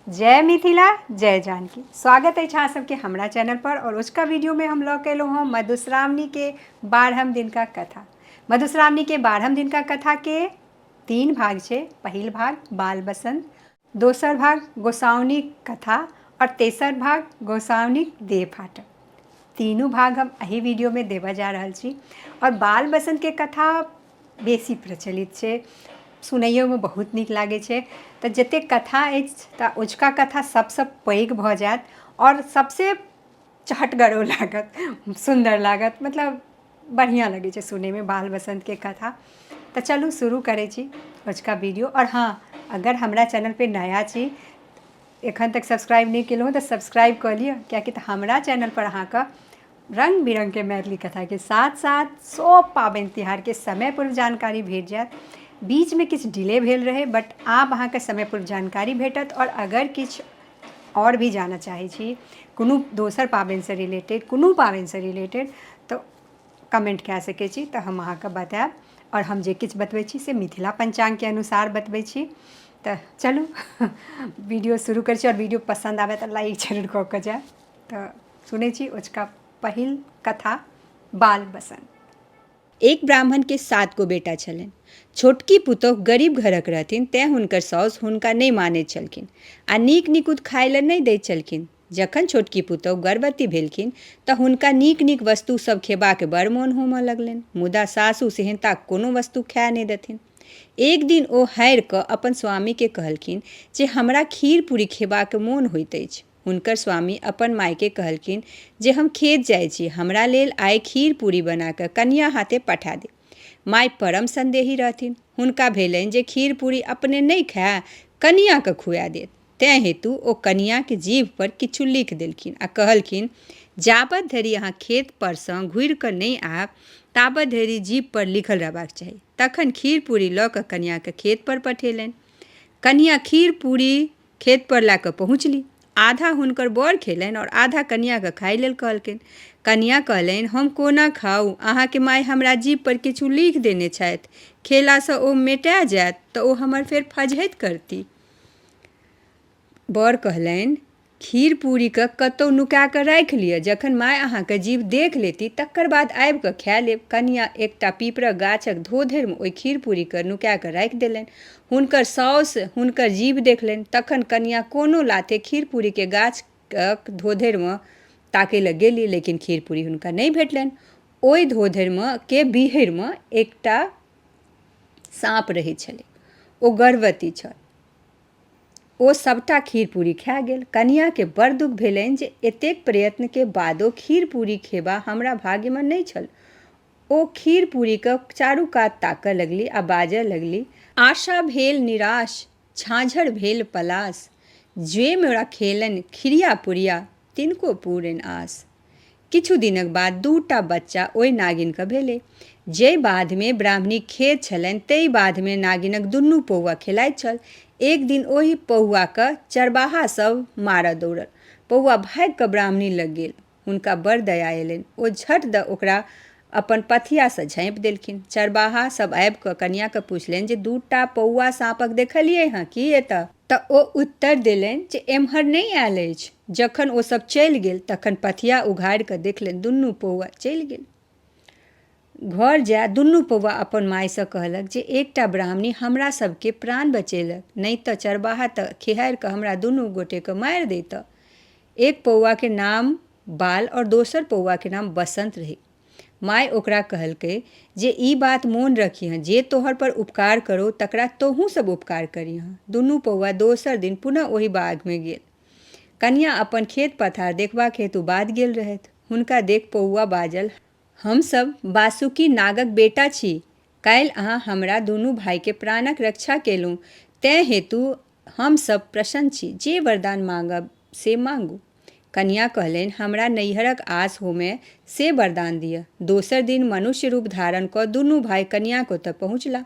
जय मिथिला जय जानकी स्वागत अछि अहाँ सबके हमरा चैनल पर और उसका वीडियो में हम लऽ के एलहुँ हँ मधुश्रावणी के बारहम दिन का कथा मधुश्रावणी के बारहम दिन का कथा के तीन भाग छै पहिल भाग बाल बसंत दोसर भाग गोसाउनी कथा और तेसर भाग गोसाउनी देह फाटक तीनू भाग हम एहि वीडियोमे देबऽ जा रहल छी आओर बाल बसन्तके कथा बेसी प्रचलित छै सुनैयोमे बहुत नीक लागै छै तऽ जते कथा अछि तऽ अजुका कथा सभसँ पैघ भऽ जायत आओर सभसँ चहटगरो लागत सुन्दर लागत मतलब बढ़िआँ लगै छै सुनैमे बाल बसन्तके कथा तऽ चलू शुरू करै छी अजुका वीडियो आओर हँ अगर हमरा चैनलपर नया छी एखन तक सब्सक्राइब नहि केलहुँ तऽ सब्सक्राइब कऽ लिअ किएकि तऽ हमरा चैनलपर अहाँके रंग बिरंग के मैथिली कथा के साथ साथ सब पाबनि तिहार के समय पूर्व जानकारी भेट जायत बीच में किछु डिले भेल रहे बट आब अहाँके समय पूर्व जानकारी भेटत और अगर किछु और भी जानऽ चाहै छी कोनो दोसर पाबनि से रिलेटेड कोनो पाबनि से रिलेटेड तऽ कमेंट कए सकै छी तऽ हम अहाँके बतायब और हम जे किछु बतबै छी से मिथिला पंचांग के अनुसार बतबै छी तऽ चलू वीडियो शुरू करै छी और वीडियो पसंद आबय तऽ लाइक जरूर कऽ कऽ जायब तऽ सुनै छी ओचका पहिल कथा बाल बसंत एक ब्राह्मण के सात गो बेटा छलनि छोटकी पुतोह गरीब घरक रहथिन तैं हुनकर साउस हुनका नहि मानैत छलखिन आ नीक निकुत खाय लए नहि दैत छलखिन जखन छोटकी पुतोह गर्भवती भेलखिन तऽ हुनका नीक नीक वस्तु सभ खेबाक बड़ मोन होमय लगलनि मुदा सासु सेहनता कोनो वस्तु खाय नहि देथिन एक दिन ओ हारि कऽ अपन स्वामी के कहलखिन जे हमरा खीर पूरी खेबाक मोन होइत अछि हुनकर स्वामी अपन मायकेँ कहलखिन जे हम खेत जाइ छी हमरा लेल आइ खीर पूरी बना कऽ कनिया हाथे पठा दे माय परम संदेही रहथिन हुनका भेलनि जे खीर पूरी अपने नहि खाय कनियाकेँ खुआ देत तैं हेतु ओ कनियाक जीभ पर किछु लिख देलखिन आ कहलखिन जाबत धरि अहाँ खेत परसँ घुरि कऽ नहि आयब ताबत धरि जीभ पर लिखल रहबाक चाही तखन खीर पूरी लऽ कऽ कनियाकेँ खेत पर पठेलनि कनिया खीर पूरी खेत पर लए कऽ पहुँचली आधा हुनकर बर खेलनि आओर आधा कनियाके खाय लेल कहलकनि कनिया कहलनि हम कोना खाउ अहाँके माय हमरा जीभ पर किछु लिख देने छथि खेलासँ ओ मेटा जायत तऽ ओ हमर फेर फजहैत करती बर कहलनि खीर पूरीके कतहु नुका कऽ राखि लिअ जखन माय अहाँके जीव देख लेती तकर बाद आबि कऽ खाए लेब कनिया एकटा पीपरक गाछक धोधरिमे ओहि खीर पूरीके नुका कऽ राखि देलनि हुनकर साउस हुनकर जीभ देखलनि तखन कनियाँ कोनो लाथे खीर पूरीके गाछक धोधरिमे ताकय लए गेली लेकिन खीर पूरी हुनका नहि भेटलनि ओहि धोधरिमे के बिहरिमे एकटा साँप रहै छलै ओ गर्भवती छल ओ सभटा खीर पूरी खा गेल कनियाँके बड़ दुख भेलनि जे एतेक प्रयत्नके बादो खीर पूरी खेबा हमरा भाग्यमे नहि छल ओ खीर-पूरीक चारू कात ताकए लगली आ बाजए लगली। आशा भेल निराश, झाँझर भेल पलाश। ज्वे मे राखेलनि खिरिया-पुरिया, तिनको पूरनि आश। किछु दिनक बाद दू टा बच्चा ओइ नागिनकेँ भेलै। जइ बाधमे ब्राह्मणीक खेत छलनि तइ बाधमे नागिनक दुनू पहुआ खेलाइत छल। एक दिन ओहि पहुआकेँ चरबाहा सभ मारए दौड़ल। पहुआ भागि कऽ ब्राह्मणी लग गेल। हुनका बड़ दया एलनि ओ झट द ओकरा अपन पथियासँ झाँपि देलखिन चरबाहा सब आबि कऽ कनियाके पुछलनि जे दूटा पौआ साँपक देखलियै हँ की एतऽ तऽ ओ उत्तर देलनि जे एम्हर नहि आयल अछि जखन ओ सब चलि गेल तखन पथिया उघारि कऽ देखलनि दुनू पौआ चलि गेल घर जाय दुनू पौआ अपन मायसँ कहलक जे एकटा ब्राह्मणी हमरा सबके प्राण बचेलक नहि तऽ चरबाहा तऽ खिहारि कऽ हमरा दुनू गोटेके मारि दैतऽ एक पौआके नाम बाल आओर दोसर पौआके नाम बसन्त रहै माइ ओकरा कहलकै जे ई बात मोन रखिहँ जे तोहर पर उपकार करो तकरा तोहूँ सब उपकार करिहँ दुनू पौआ दोसर दिन पुनः ओहि बागमे गेल कनिया अपन खेत पथार देखबाक हेतु बाद गेल रहथि हुनका देख पौआ बाजल हमसभ बासुकी नागक बेटा छी काल्हि अहाँ हमरा दुनू भाइके प्राणक रक्षा केलहुँ तेँ हेतु हम सभ प्रसन्न छी। जे वरदान माँगब से माँगू। कनियाँ कहलनि, हमरा नैहरक आस होमए से वरदान दिअ। दोसर दिन मनुष्य रूप धारण कऽ दुनू भाय कनियाँक ओतए पहुँचलाह।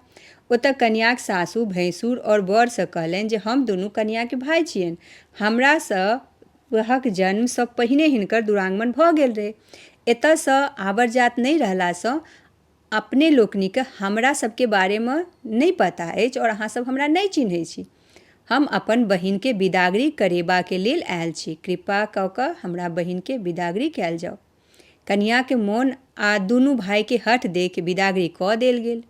ओतए कनियाँक सासु, भैंसुर और वर सँ कहलनि जे हम दुनू कनियाँ के भाय छियनि। हमरा सभहक जन्म सँ पहिने हिनकर दुरागमन भऽ गेल रहै। एतए सँ आवर्जात नहि रहला सँ अपने लोकनिके हमरा सबके बारेमे नहि पता अछि आओर अहाँ सब हमरा नहि चिन्है छी हम अपन बहिनके बिदागरी करेबाके लेल आयल छी कृपा कऽ कऽ हमरा बहिनके बिदागरी कयल जाउ कनियाके मोन आ दुनू भायके हठ देख बिदागरी कऽ देल गेल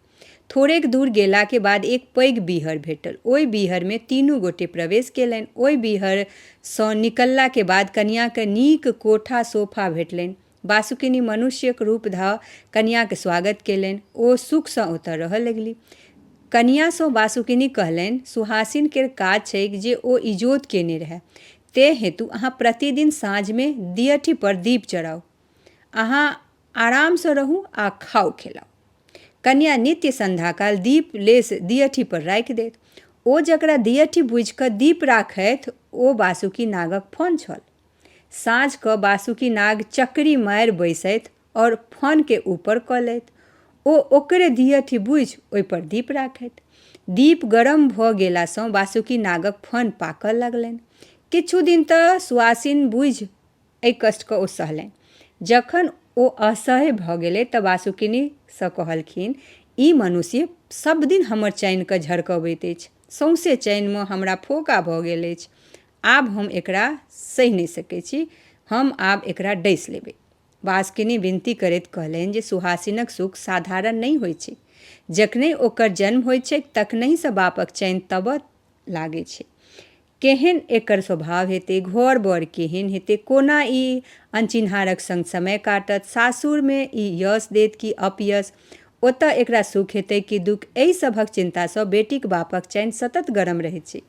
थोड़ेक दूर गेलाके बाद एक पैघ बीहर भेटल ओहि बीहरमे तीनू गोटे प्रवेश केलनि ओहि बीहरसँ निकललाके बाद कनियाके नीक कोठा सोफा भेटलनि बासुकिनी मनुष्यक रूप धऽ कनियाँक स्वागत केलनि। ओ सुखसँ ओतऽ रहऽ लगलि। कनियाँसँ बासुकिनी कहलनि, सुहासिन केर काज छैक जे ओ इजोत केने रहए। तेँ हेतु अहाँ प्रतिदिन साँझमे दिअठीपर दीप चढ़ाउ। अहाँ आरामसँ रहू आ खाउ-खेलाउ। कनियाँ नित्य संध्याकाल दीप लेस दिअठीपर राखि देत। ओ जकरा दिअठी बुझि कऽ दीप राखथि ओ बासुकी नागक फन छल। साँझ कऽ बासुकी नाग चकरी मारि बैसैत और फन के ऊपर कऽ लैत। ओ ओकरे दियठी बुझि ओहि पर दीप राखैत। दीप गरम भऽ गेला सँ बासुकी नागक फन पाकऽ लगलैन। किछु दिन तऽ सुआसिन बुझि एहि कष्ट कऽ ओ सहलैन। जखन ओ असह्य भऽ गेलै तऽ बासुकिनी सँ कहलखिन ई मनुष्य सभ दिन हमर चैन कऽ झरकबैत अछि। सौंसे चैन मे हमरा फोका भऽ गेल अछि। आब हम एकरा सहि नहि सकै छी हम आब एकरा डसि लेबै बासकिनी विनती करैत कहलनि जे सुहासिनक सुख साधारण नहि होइत छै जखने ओकर जन्म होइत छैक तखनहिसँ बापक चैन तबऽ लागै छै केहन एकर स्वभाव हेतै घर बर केहन हेतै कोना ई अनचिन्हारक संग समय काटत सासुरमे ई यश देत कि अपयश ओतय एकरा सुख हेतै कि दुख एहि सभक चिन्तासँ बेटीक बापक चैन सतत गरम रहै छै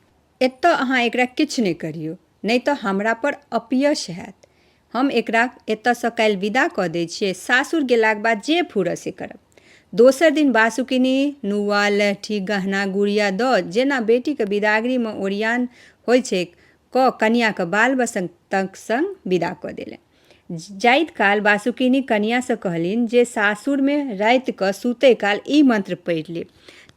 एतऽ अहाँ एकरा किछु नहि करियौ नहि तऽ हमरा पर अपयश हैत हम एकरा एतऽसँ काल्हि विदा कऽ दै छियै सासुर गेलाक बाद जे फूरऽ से करब दोसर दिन बासुकिनी नुआ लहठी गहना गुड़िया दऽ जेना बेटीके विदागरीमे ओरियान होइ छै कऽ कनियाके बाल बसन्तक संग विदा कऽ देलनि जाइत काल बासुकिनी कनियासँ कहलनि जे सासुरमे रातिकऽ सुतै काल ई मंत्र पढ़ि लेब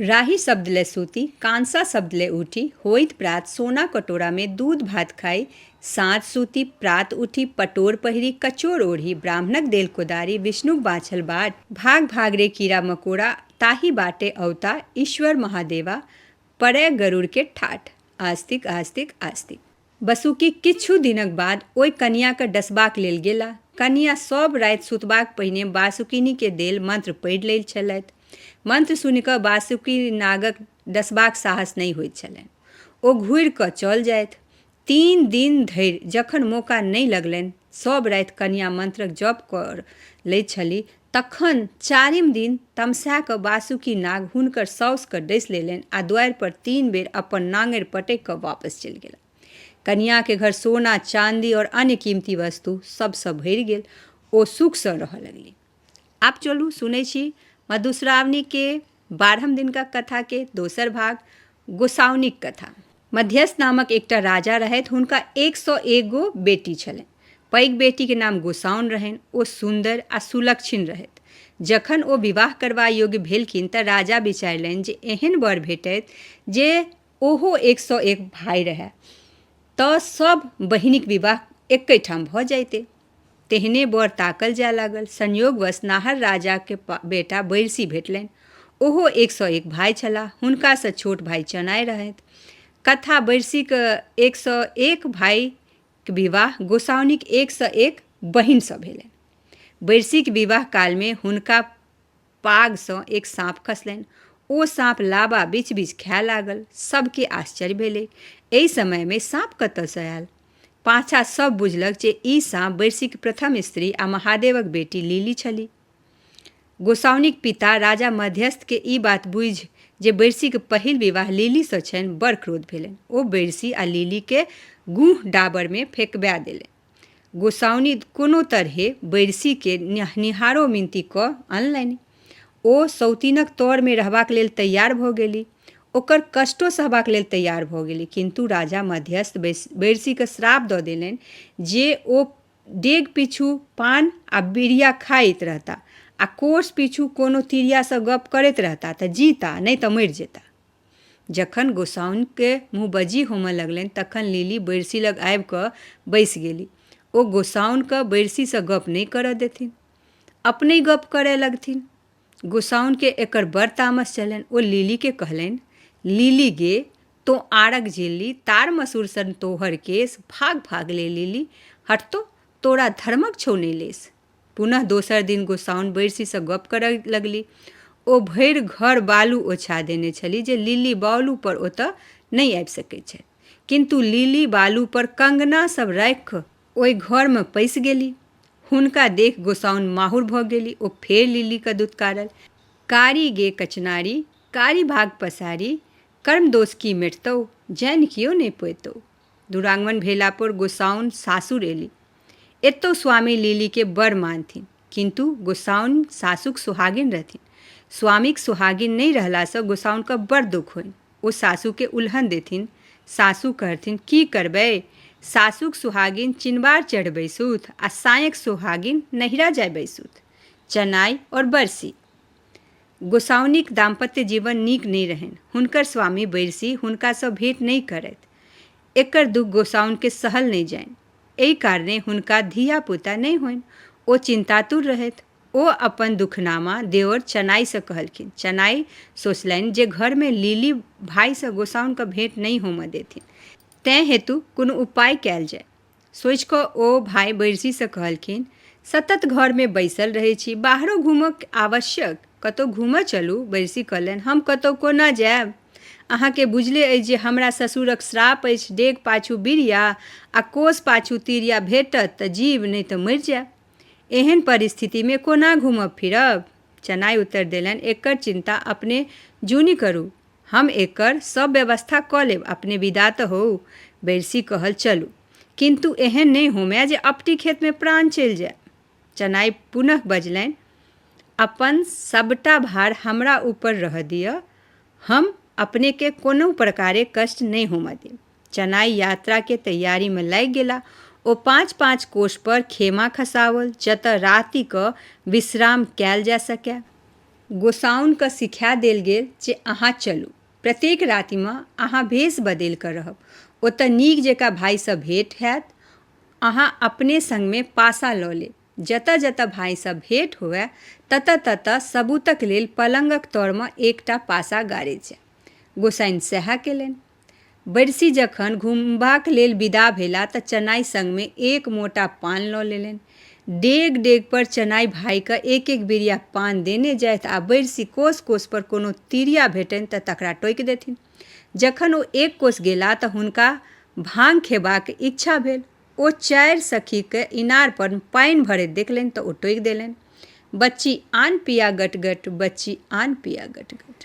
राही शब्द लए सूती, कांसा शब्द लए ऊठि, होइत प्रात सोना कटोरा मे दूध भात खाइ, साँझ सूति, प्रात उठि, पटोर पहिरि, कचोर ओढ़ि, ब्राह्मणक देल कोदारि, विष्णुक बाँछल बाट, भाग भाग रे कीड़ा मकोड़ा, ताहि बाटे अवता, ईश्वर महादेवा, पड़ए गरुड़ के ठाठ। आस्तिक आस्तिक आस्तिक। बसुकी किछु दिनक बाद ओइ कनिया केँ डसबाक लेल गेला। कनिया सभ राति सुतबाक पहिने बासुकिनी केँ देल मंत्र पढ़ि लैत छलथि। मंत्र सुनि कऽ बासुकी नागक डसबाक साहस नहि होइत छलनि। ओ घुरि कऽ चल जाइथ। तीन दिन धरि जखन मौका नहि लगलनि सभ राति कनियाँ मंत्रक जप कर लैत छलीह। तखन चारिम दिन तमसा कऽ वासुकी नाग हुनकर साउस कऽ डसि लेलनि आ द्वारि पर तीन बेर अपन नांगरि पटकि कऽ वापस चलि गेला। कनियाँ के घर सोना, चांदी और अन्य कीमती वस्तु सभ सँ भरि गेल। ओ सुख सँ रहऽ लगलीह। आब चलू सुनै छी मधुश्रावणीके बारहम दिनका कथाके दोसर भाग गोसाउनीक कथा मध्यस्थ नामक एकटा राजा रहथि हुनका एक सौ एगो बेटी छलनि पैघ बेटीके नाम गोसाउन रहनि ओ सुन्दर आ सुलक्षिन रहथि जखन ओ विवाह करबा योग्य भेलखिन तऽ राजा विचारलनि जे एहन वर भेटैत जे ओहो एक सौ एक भाय रहए तऽ सभ बहिनीक विवाह एकै ठाम भऽ जाइते तेहने बर ताकल जाय लागल संयोगवश नाहर राजाके बेटा बैरसी भेटलनि ओहो एक सए एक भाय छलाह हुनकासँ छोट भाय चनाय रहथि कथा बैरसीके एक सए एक भायके विवाह गोसाउनिक एक सए एक बहिनसँ भेलनि बैरसीके विवाह कालमे हुनका पागसँ एक साँप खसलनि ओ साँप लाबा बीच बीच खाए लागल सभके आश्चर्य भेलै एहि समयमे साँप कतयसँ आयल पाछा सभ बुझलक जे ई साँप बैरसीक प्रथम स्त्री आ महादेवक बेटी लीली छली गोसाउनिक पिता राजा मध्यस्थके ई बात बुझि जे बैरसीक पहिल विवाह लीलीसँ छनि बड़ क्रोध भेलनि ओ बैरसी आ लीलीके गूह डाबरमे फेकबा देलनि गोसाउनि कोनो तरहें बैरसीकेँ नहनिहारो मिनती कऽ अनलनि। ओ सौतिनक तरमे रहबाक लेल तैयार भऽ गेलि। ओकर कष्टो सहबाक लेल तैयार भऽ गेलि। किन्तु राजा मध्यस्थ बैरसीकेँ श्राप दऽ देलनि जे ओ डेग पीछू पान आ बीड़िया खाइत रहता आ कोस पीछू कोनो तिरियासँ गप्प करैत रहता तँ जीता नहि तँ मरि जेता। जखन गोसाउनिकेँ मुँहबज्जी होमए लगलनि तखन लिली बैरसी लग आबि कऽ बैसि गेली। ओ गोसाउनिकेँ बैरसीसँ गप्प नहि करए देथिन। अपनहि गप्प करए लगथिन। गोसाउनिकेँ एकर बड़ तामस चललनि। ओ लिलीकेँ कहलनि, लिली गे, तोँ आड़क झेलली, ताड़-मसूर सन तोहर केश, भाग-भाग ले लिली, हट तोँ, तोरा धर्मक छौ नहि लेश। पुनः दोसर दिन गोसाउन बैरसीसँ गप करय लगली ओ भरि घर बालू ओछा देने छली जे लिली बालू पर ओतय नहि आबि सकैत छथि किन्तु लिली बालू पर कंगना सब राखि कऽ ओहि घरमे पैसि गेली हुनका देख गोसाउन माहुर भऽ गेली ओ फेर लिलीके दुत्कारल कारी गे कचनारी कारी भाग पसारी कर्म दोष की मेटतौ जानि कियो नहि पैतौ दुरांगमन भेला पर गोसाउन सासुर एली एतौ स्वामी लीली के बड़ मानथिन किंतु गोसाउन सासुक सुहागिन रहथिन स्वामीक सुहागिन नहि रहला से गोसाउन के बड़ दुख होइन ओ सासु के उल्हन देथिन सासु कहथिन की करबै सासुक सुहागिन चिनबार चढ़ बैसुथ आ सायक सुहागिन नहिरा जाय बैसुथ चनाई और बरसी गोसाउनिक दाम्पत्य जीवन नीक नहि रहनि। हुनकर स्वामी बैरसी हुनकासँ भेंट नहि करथि। एकर दुख गोसाउनिकेँ सहल नहि जानि। एहि कारणेँ हुनका धीया-पूता नहि होनि। ओ चिन्तातुर रहथि। ओ अपन दुखनामा देओर चनाइसँ कहलखिन। चनाइ सोचलनि जे घरमे लीली भाइसँ गोसाउनिकेँ भेंट नहि होमए देथिन। तैं हेतु कोनो उपाय कएल जाए। सोचि कऽ ओ भाय बैरसीसँ कहलखिन सतत घरमे बैसल रहै छी बाहरो घूमक आवश्यक कतहु घूमऽ चलू बैरसी कहलनि हम कतहु कोना जायब अहाँके बुझले अछि जे हमरा ससुरक श्राप अछि डेग पाछू बिरिया आ कोस पाछू तिरिया भेटत तऽ जीव नहि तऽ मरि जायब एहन परिस्थितिमे कोना घूमब फिरब चनाइ उत्तर देलनि एकर चिन्ता अपने जूनि करू हम एकर सब व्यवस्था कऽ लेब अपने विदा तऽ होउ बैरसी कहल चलू किन्तु एहन नहि होमए जे अपटी खेतमे प्राण चलि जाय चनाइ पुनः बजलनि अपन सभटा भार हमरा ऊपर रहऽ दिअ हम अपनेके कोनो प्रकारे कष्ट नहि होमऽ देब चनाइ यात्राके तैयारीमे लागि गेला ओ पाँच पाँच कोषपर खेमा खसाओल जतऽ रातिकऽ विश्राम कयल जा सकए गोसाउनकेँ सिखा देल गेल जे अहाँ चलू। प्रत्येक रातिमे अहाँ भेष बदलि कऽ रहब। ओतय नीक जकाँ भाइसँ भेंट हएत। अहाँ अपने संगमे पाशा लऽ लेब। जतय-जतय भाइसँ भेंट होअए ततय-ततय सबूतक लेल पलंगक तऽरमे एकटा पाशा गाड़ैत जाएब। गोसाइन सएह केलनि। बैरसी जखन घुमबाक लेल विदा भेला तँ चनाइ संगमे एक मोटा पान लऽ लेलनि। डेग-डेगपर चनाइ भाइकँ एक-एक बिरिया पान देने जाइथ आ बैरसी कोस-कोसपर कोनो तिरिया भेटनि तँ तकरा टोकि देथिन। जखन ओ एक कोस गेला तँ हुनका भांग खेबाक इच्छा भेल। ओ चारि सखीकँ इनारपर पानि भरैत देखलनि तँ ओ टोकि देलनि, बच्ची आन पिया गट-गट, बच्ची आन पिया गट-गट।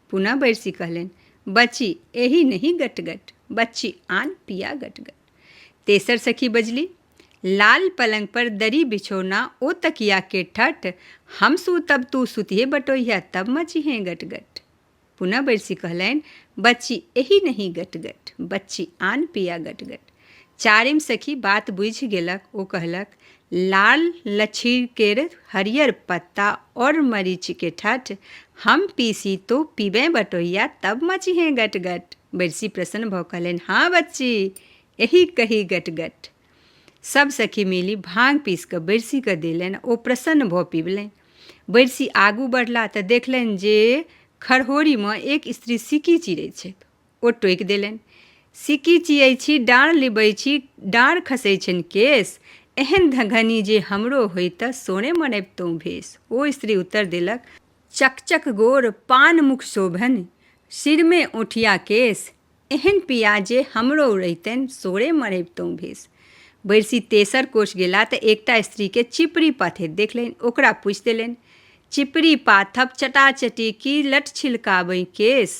पुनः बैरसी कहलनि बची एही नहीं गटगट बच्ची आन पिया गटगट तेसर सखी बजली लाल पलंग पर दरी बिछोना ओ तकिया के ठठ हम सू तब तू सुतिए बटोहिया तब मची हैं गटगट पुनः बैरसी कहलनि बच्ची एही नहीं गटगट बच्ची आन पिया गटगट चारिम सखी बात बुझि गेलक ओ कहलक लाल लछीकेर हरियर पत्ता और मरीच के ठठ हम पीसी तो पीबे बटोहिया तब मचिहे गटगट बरसी प्रसन्न भऽ कहलनि हाँ बच्ची एही कही गटगट सब सखी मिली भांग पीस कऽ बरसी कऽ देलनि ओ प्रसन्न भऽ पीबलनि बरसी आगू बढ़ला तऽ देखलनि जे खरहोरीमे एक स्त्री सिक्की चिरै छथि ओ टोकि देलनि सिकी चियै छी डाँड़ लिबै छी डाँड़ खसै छनि केश एहन धघनी जे हमरो होइत सोने मनैबतहुँ भेष ओ स्त्री उत्तर देलक चकचक गोर पान मुख शोभन सिरमे ओठिया केश एहन पिया जे हमरो रहितनि सोरे मनैबतहुँ भेष बैरसी तेसर कोष गेला तऽ एकटा स्त्रीके चिपरी पाथैत देखलनि ओकरा पूछि देलनि चिपरी पाथब चटाचटी की लट छिलकाबै केश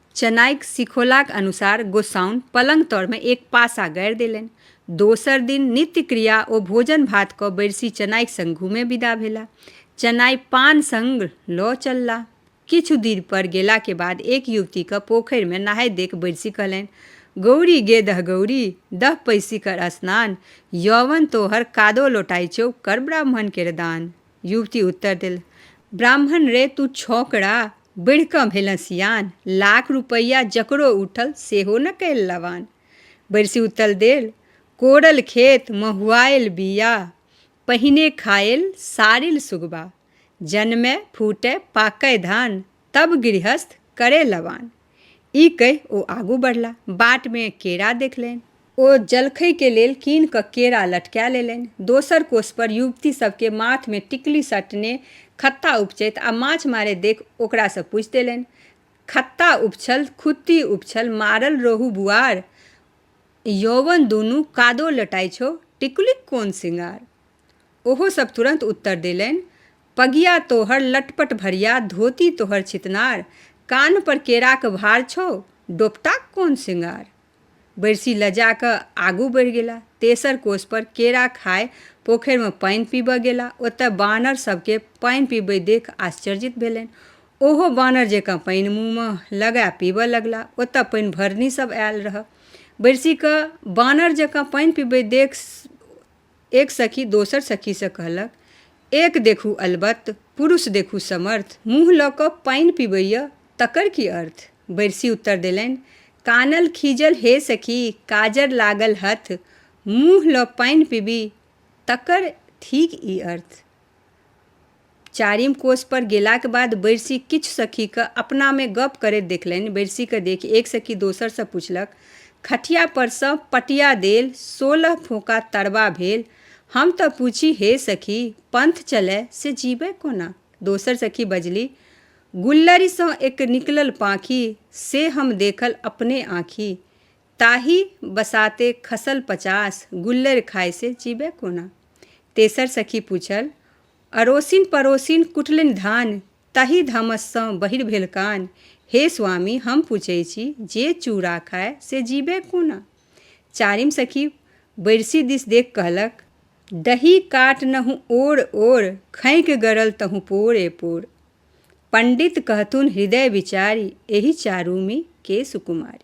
चनाइक सिखौलाक अनुसार गोसाउन पलंग तर मे एक पासा गाड़ि देलनि। दोसर दिन नित्य क्रिया ओ भोजन भात कऽ बैरसी चनाइक संग घूमे विदा भेला। चनाइ पान संग लऽ चलला। किछु दिर पर गेला के बाद एक युवती कऽ पोखरि मे नहाइत देख बैरसी कहलनि, गौरी गे दह गौरी, दह पैसि कर स्नान। यौवन तोहर कादो लोटाइ चौ, कर ब्राह्मण केर दान। युवती उत्तर देल ब्राह्मण रे तू छौकड़ा बढ़ि कऽ भेलँ सियान लाख रुपैआ जकरो उठल सेहो न कैल लवान बरिसी उत्तर देल कोड़ल खेत महुआयल बिया पहिने खायल सारिल सुगबा जनमे फूटय पाकय धान तब गृहस्थ करय लवान ई कहि ओ आगू बढ़ला। बाट मे केरा देखलनि। ओ जलखै के लेल कीनि कऽ केरा लटका लेलनि। दोसर कोस पर युवती सभ के माथ मे टिकली सटने खत्ता उपचैत आ माछ मारैत देखि ओकरा सँ पूछि देलनि, खत्ता उपछल, खुत्ती उपछल, मारल रोहू बुआर? यौवन दुनू कादो लटाइ छौ, टिकुलीक कोन सिंगार? ओहो सब तुरन्त उत्तर देलनि, पगिया तोहर लटपट भरिया, धोती तोहर छितनार, कान्ह पर केराक भार छौ, डोपटाक कोन सिंगार? बैरसी लजा कऽ आगू बढ़ि गेला। तेसर कोस पर केरा खाय पोखरि मे पानि पीबय गेला। ओतय बानर सब केँ पानि पीबैत देख आश्चर्यित भेलनि। ओहो बानर जेकाँ पानि मुँह मे लगाय पीबय लगला। ओतय पानि भरनी सब आयल रहय। बैरसी कऽ बानर जेकाँ पानि पीबैत देख एक सखी दोसर सखीसँ कहलक, एक देखू अलबत्त, पुरुष देखू समर्थ। मुँह लऽ कऽ पानि पीबैए, तकर की अर्थ? बैरसी उत्तर देलनि, कानल खीजल हे सखी, काजर लागल हथ, मुँह लऽ पानि पीबी, तकर थीक ई अर्थ। चारिम कोसपर गेलाक बाद बैरसी किछु सखीकेँ अपनामे गप्प करैत देखलनि। बैरसीकेँ देखि एक सखी दोसरसँ पुछलक, खटियापरसँ पटिया देल, सोलह फोंका तरबा भेल। हम तँ पुछी, हे सखी, पंथ चलए से जीबए कोना? दोसर सखी बजलि, गुल्लरिसँ एक निकलल पाँखि, से हम देखल अपने आँखि। ताहि बसाते खसल पचास गुल्लरि खाइ से जीबै कोना तेसर सखी पूछल अड़ोसिन पड़ोसिन कुटलनि धान ताहि धामससँ बहिर भेल कान हे स्वामी हम पूछै छी जे चूड़ा खाय से जीबै कोना चारिम सखी बैरसी दिस देख कहलक दही काट नहु ओर ओर खैक गरल तहु पोरे पोर पंडित कहथुन हृदय विचारी एहि चारूमी के सुकुमारी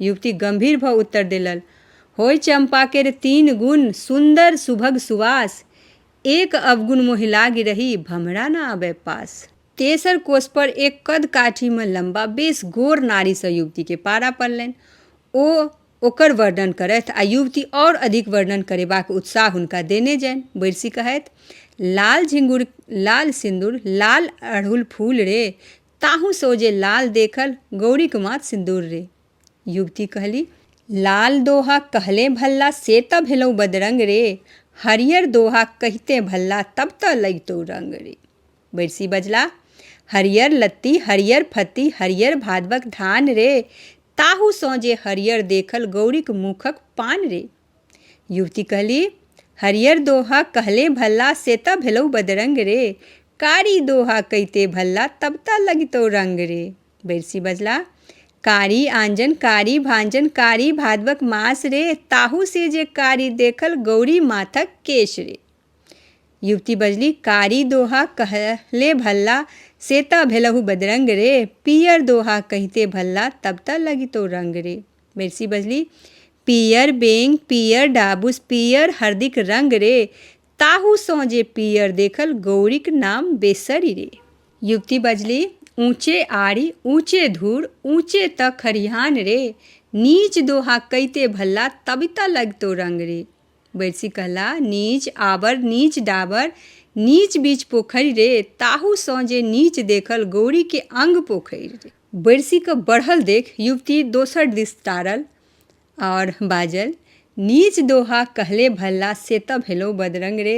युवती गंभीर भऽ उत्तर देलल। होइ चम्पा केर तीन गुण, सुन्दर, सुभग, सुवास। एक अवगुण मोहि लागि रहि, भम्हरा न अबै पास। तेसर कोसपर एक कद-काठीमे लम्बा, बेस गोर नारीसँ युवतीकेँ पारा पड़लनि। ओ ओकर वर्णन करथि आ युवती और अधिक वर्णन करेबाक उत्साह हुनका देने जानि। बैरसि कहथि, लाल झिंगुर, लाल सिन्दुर, लाल अड़हुल फूल रे, ताहू से ओ जे लाल देखल गौरीक माथ सिंदूर रे युवती कहली लाल दोहा कहले भल्ला से त भेलौ बदरंग रे हरियर दोहा कहिते भल्ला तब त लगितौ रंग रे बैरसी बजला हरियर लत्ती हरियर फत्ती हरियर भादवक धान रे ताहू सौजे हरियर देखल गौरीक मुखक पान रे युवती कहली हरियर दोहा कहले भल्ला से त भेलौ बदरंग रे कारी दोहा कैते भल्ला तब त लगतौ रंग रे बैरसी बजला कारी आंजन कारी भांजन कारी भादवक मास रे ताहू से जे कारी देखल गौरी माथक केश रे युवती बजली कारी दोहा कहले भल्ला से त भेलहु बदरंग रे पियर दोहा कहते भल्ला तब त लगितो रंग रे मेरसी बजली, पीयर बेंग, पीयर डाबुस, पीयर हरदिक रंग रे। ताहू सँ जे पीयर देखल, गौरीक नाम बेसरि रे। युवती बजली, ऊँचे आड़ि, ऊँचे धूर, ऊँचे तँ खरिहान रे। नीच दोहा कइते भल्ला, तबि तँ लगितौ रंग रे। बैरसी कहला, नीच आबर, नीच डाबर, नीच बीच पोखरि रे। ताहू सँ जे नीच देखल, गौरीक अंग पोखरि रे। बैरसी कऽ बढ़ल देख युवती दोसर दिस टारल आओर बाजल नीच दोहा कहले भल्ला से तऽ भेलौ बदरंग रे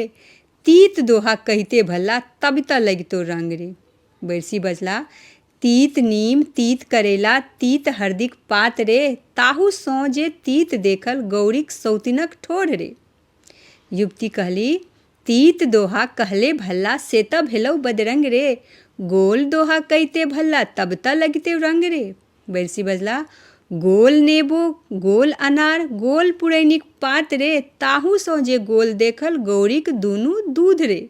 तीत दोहा कहिते भल्ला तब तऽ लगितो रंग रे बैरसी बजला तीत नीम तीत करैला तीत हरदिक पात रे ताहू सौं जे तीत देखल गौरीक सौतिनक ठोर रे युवती कहली, तीत दोहा कहले भल्ला से त भेलउ बदरंग रे। गोल दोहा कइते भल्ला तब त लगितउ रंग रे। बैरसी बजला, गोल नेबो, गोल अनार, गोल पुरैनीक पात रे, ताहू सँ जे गोल देखल गौरीक दुनू दूध रे।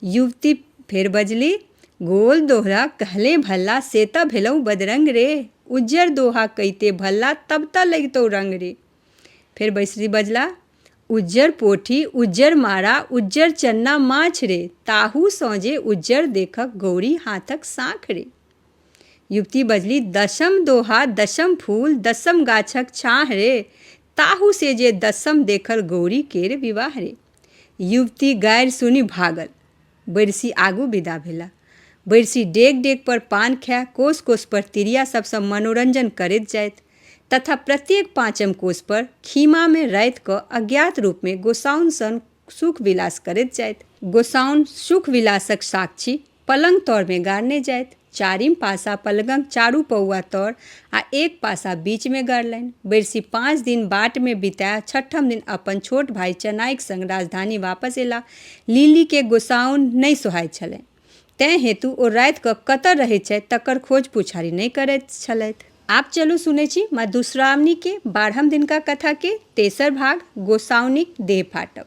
युवती फेर बजली, गोल दोहा कहले भल्ला से त भेलउ बदरंग रे। उज्जर दोहा कइते भल्ला तब त लगितउ रंग रे। फेर बैसरी बजला उज्जर पोठी उज्जर मारा उज्जर चन्ना माछ रे ताहू सौजे उज्जर देखक गौरी हाथक साँख रे युवती बजली दशम दोहा दशम फूल दशम गाछक छाँह रे ताहू से जे दशम देखल गौरी केर विवाह रे युवती गारि सुनि भागल बैरसी आगू विदा भेला। बैरसी डेग-डेग पर पान खाए कोस-कोस पर तिरिया सब सँ मनोरंजन करैत जाइत तथा प्रत्येक पाँचम कोस पर खीमा मे राति क अज्ञात रूप मे गोसाउन सन सुख-विलास करैत जाइत। गोसाउन सुख-विलासक साक्षी पलंग-तौर मे गाड़ने जाइत। चारिम पासा पलगंक चारू पौआ तर आ एक पासा बीच मे गाड़लनि। बैरसी पाँच दिन बाट मे बिताए छठम दिन अपन छोट भाई चनाईक संग राजधानी वापस एलाह। लिली केँ गोसाउन नहि सोहाइत छलनि। तैं हेतु ओ राति कऽ कतय रहैत छथि तकर खोज पुछारि नहि करैत छलथि। आब चलू सुनैत छी मधुश्रावणी केँ बारहम दिनका कथा केँ तेसर भाग गोसाउनिक देह फाटब।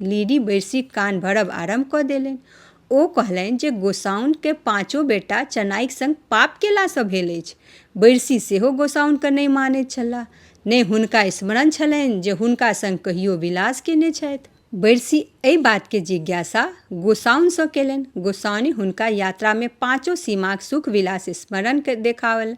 लेडी बैसि कान भरब आरम्भ कऽ देलनि ओ कहलनि जे गोसाउनिके पाँचो बेटा चेनाइके सङ्ग पाप कएलासँ भेल अछि बैसि सेहो गोसाउनिके नहि मानै छलाह नहि हुनका स्मरण छलनि जे हुनका सङ्ग कहिओ विलास कएने छथि बैसि एहि बातके जिज्ञासा गोसाउनिसँ कएलनि गोसाउनि हुनका यात्रामे पाँचो सीमाके सुख विलास स्मरणके देखाओल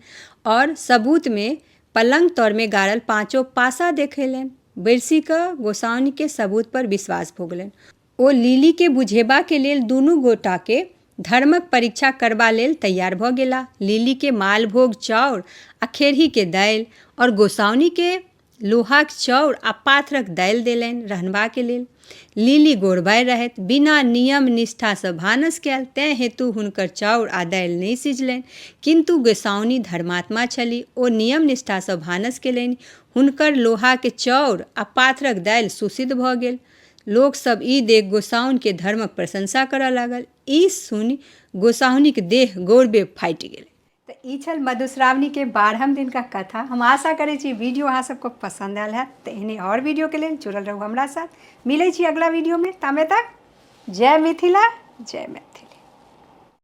आओर सबूतमे पलंग तरमे गाड़ल पाँचो पासा देखैलनि। बैसि कऽ गोसाउनिकेँ सबूतपर विश्वास भऽ गेलनि। ओ लिलीकेँ बुझेबाक लेल दुनू गोटाकेँ धर्मक परीक्षा करबा लेल तैयार भऽ गेलाह। लिलीकेँ मालभोग चाउर आ खेरहीक दालि और गोसाउनिकेँ लोहाक चाउर आ पाथरक दालि देलनि रहनबाक लेल। लिली गोरबाइ रहथि बिना नियम निष्ठासँ भानस कयल तैं हेतु हुनकर चाउर आ दालि नहि सिझलनि किन्तु गोसाउनि धर्मात्मा छलि ओ नियम निष्ठासँ भानस केलनि हुनकर लोहाक चाउर आ पाथरक दालि सुसिद्ध भऽ गेल लोक सब ई देख गोसाउनिके धर्मक प्रशंसा करय लागल ई सुनि गोसाउनिक देह गौरवे फाटि गेलै तऽ ई छल मधुश्रावणीके बारहम दिनका कथा हम आशा करै छी वीडियो अहाँ सबके पसन्द आयल हैत तऽ एहने आओर वीडियोके लेल जुड़ल रहू हमरा साथ मिलै छी अगिला वीडियोमे तामे तक जय मिथिला जय मैथिली